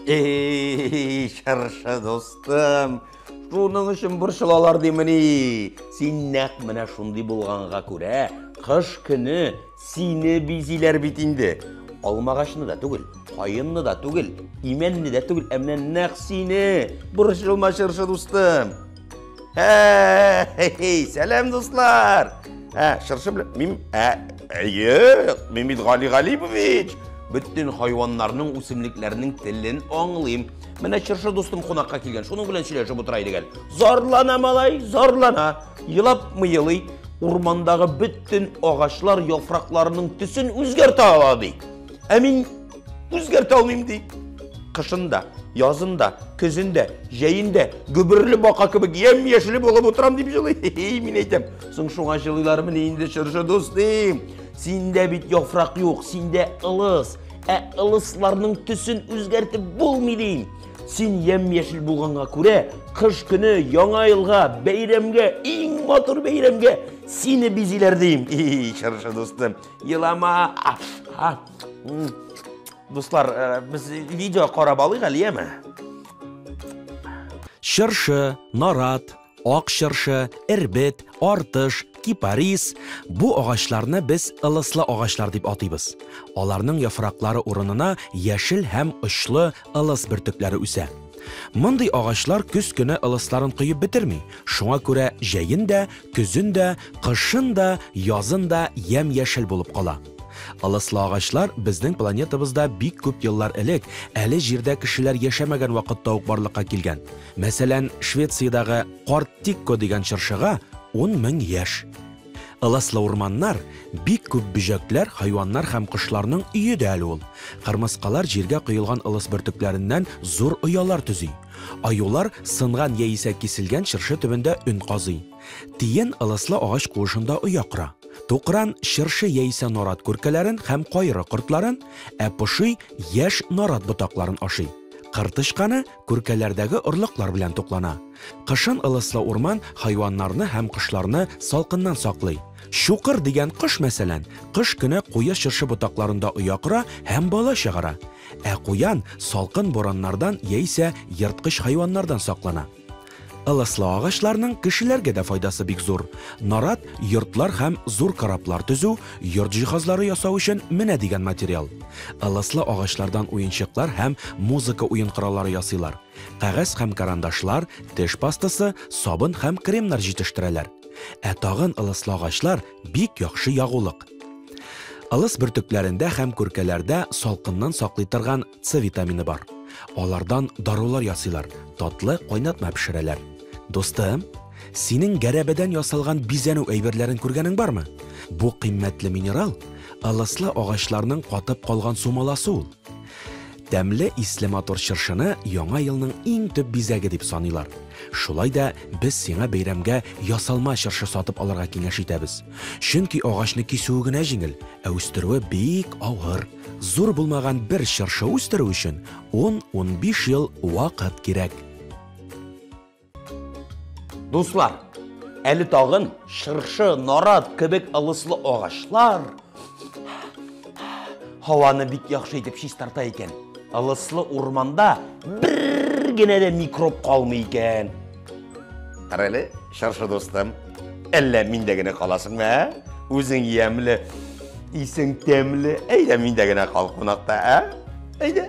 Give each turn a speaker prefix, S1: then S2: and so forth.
S1: Эй, шарша достым, шуның өчен борчылалар димени. Син нәкъ менә шундый булганга күрә, кыш көне сине бизиләр бит инде. Алмагачны да түгел, каенны да түгел, имәнне дә түгел, ә менә нәкъ сине. Борчылма, шарша дустым. Эй, сәләм, дуслар! Ә, шыршы белән, мин, ә, әйе, Мимит Гали Галипович! Бөтен хайваннарның, үсемлекләрнең телен аңлыйм. Менә шыршы дустым кунакка килгән, шуның белән сөйләшеп утыра идек әле. Зарлана малай, зарлана. Елап мыелый, урмандагы бөтен агачлар яфракларының төсен үзгәртә ала ди. Ә мин Үзгәртә алмыйм ди. Кышында, язында, көзендә, җәендә гөберле бака кебек ям яшеле булып утырам дип җылый. Мин әйтәм, соң шуңа җылыйлармыни инде чыршы дустым. Синдә бит яфрак юк, синдә ылыс. Ә ылысларның төсен үзгәртеп булмый дим. Син ям яшел булганга күрә, кыш көне яңа елга, бәйрәмгә, иң матур бәйрәмгә сине бизиләр дим. И, чыршы дустым, елама. Дуслар, э, без видео карап алыйк әле, яме?
S2: Чыршы, нарат, ак чыршы, эрбет, артыш, кипарис. Бу агачларны без ылыслы агачлар дип атыйбыз. Аларның яфраклары урынына яшел һәм очлы ылыс бөртекләре үсә. Мондый агачлар көз көне ылысларын коеп бетерми. Шуңа күрә җәен дә, көзен дә, кышын да, язын да ямь-яшел булып кала. Ылыслы агачлар безнең планетабызда бик күп еллар элек, әле Җирдә кешеләр яшәмәгән вакытта ук барлыкка килгән. Мәсәлән, Швециядагы Карт Тикко дигән чыршыга ун мең яшь. Ылыслы урманнар, бик күп бөҗәкләр, хайваннар һәм кошларның өе дә әле ул. Кырмыскалар җиргә коелган ылыс бөртекләреннән зур оялар төзи. Аюлар сынган яисә киселгән чыршы төбендә өн казый. Тиен ылыслы агач куышында оя кора. Тукран чыршы яисә нарат күркәләрен һәм кайры кортларын, ә поши яшь нарат ботакларын ашый. Кыр тычканы күркәләрдәге орлыклар белән туклана. Кышын ылыслы урман хайваннарны һәм кошларны салкыннан саклый. Чукыр дигән кош, мәсәлән, кыш көне куе чыршы ботакларында оя кора һәм бала чыгара. Ә куян салкын бураннардан яисә ерткыч хайваннардан саклана. Ылыслы агачларның кешеләргә дә файдасы бик зур. Нарат, йортлар һәм зур кораблар төзү, йорт җиһазлары ясау өчен менә дигән материал. Ылыслы агачлардан уенчыклар һәм музыка уен кораллары ясыйлар. Кәгазь һәм карандашлар, теш пастасы, сабын һәм кремнар җитештерәләр. Ә тагын ылыслы агачлар, бик яхшы ягулык. Ылыс бөртекләрендә һәм күркәләрдә салкыннан саклый торган С витамины бар. Алардан дарулар ясыйлар, татлы кайнатма пешерәләр. Дустым, синең гәрәбәдән ясалган бизәнү әйберләрен күргәнең бармы? Бу кыйммәтле минерал ылыслы агачларның катып калган сумаласы ул. Тәмле исле матур чыршыны Яңа елның иң төп бизәге дип саныйлар. Шулай да без сиңа бәйрәмгә ясалма чыршы сатып алырга киңәш итәбез. Чөнки агачны кисүе генә җиңел, ә үстерүе бик авыр. Зур булмаган бер чыршы үстерү өчен 10-15 ел вакыт кирәк.
S1: Дуслар, әле тагын чыршы, нарат кебек ылыслы агачлар һаваны бик яхшы итеп чистарта икән. Ылыслы урманда бер генә дә микроб калмый икән. Кара әле, чаршы дустым, әллә миндә генә каласыңмы, ә? Үзең ямьле, исең тәмле, әйдә миндә генә кал кунакта, ә? Әйдә.